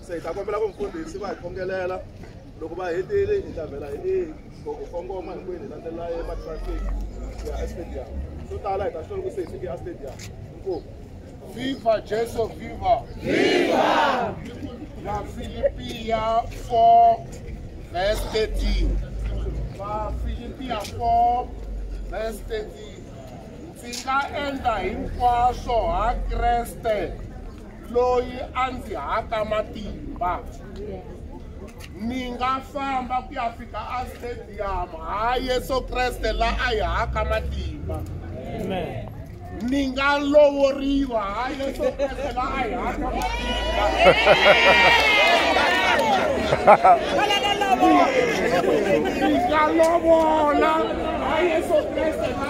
se hi ta kombela ku mfundhisi va hi khongelela loko va hetile hi ta vhela hi ku kongoma hinkwenu hi landzelela ematraffic ya estadium swo tala hi ta swi loko se hi fike estadium inkomu viva jesu viva viva la filipia 4 verse 13 la filipia 4 verse 13 Ndzi nga endla hinkwaswo ha Kreste loyi a ndzi haka matimba. Ni nga famba ku ya fika astadium ha Yesu Kreste la a hi haka matimba. Ni nga lovoriwa ha Yesu Kreste la a hi haka matimba. Ni nga lovola ha Yesu Kreste la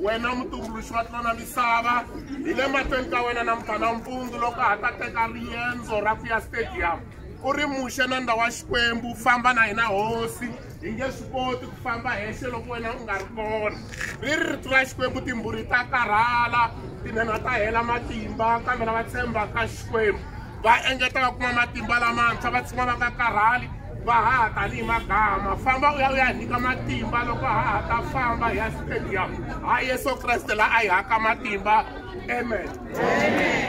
wena mutumbuluxi wa tlona misava hi le mahlweni ka wena na mphana mpundzu loko ha ta teka riendzo ra ku ya stadium u ri muxe na ndhawu wa xikwembu famba na hina hosi hi nge swi koti ku famba hexe loko wena u nga ri kona ri ri rito ra xikwembu timbhuri ta karhala tinhenha ta hela matimba kambe lava tshembaka xikwembu va engeta va kuma matimba lamantshwa va tshima va nga karhali va haha tanihi magama famba u ya u ya nyika matimba loko haha ta famba hi ya stadium ha yesu kreste la a hi haka matimba amen, amen.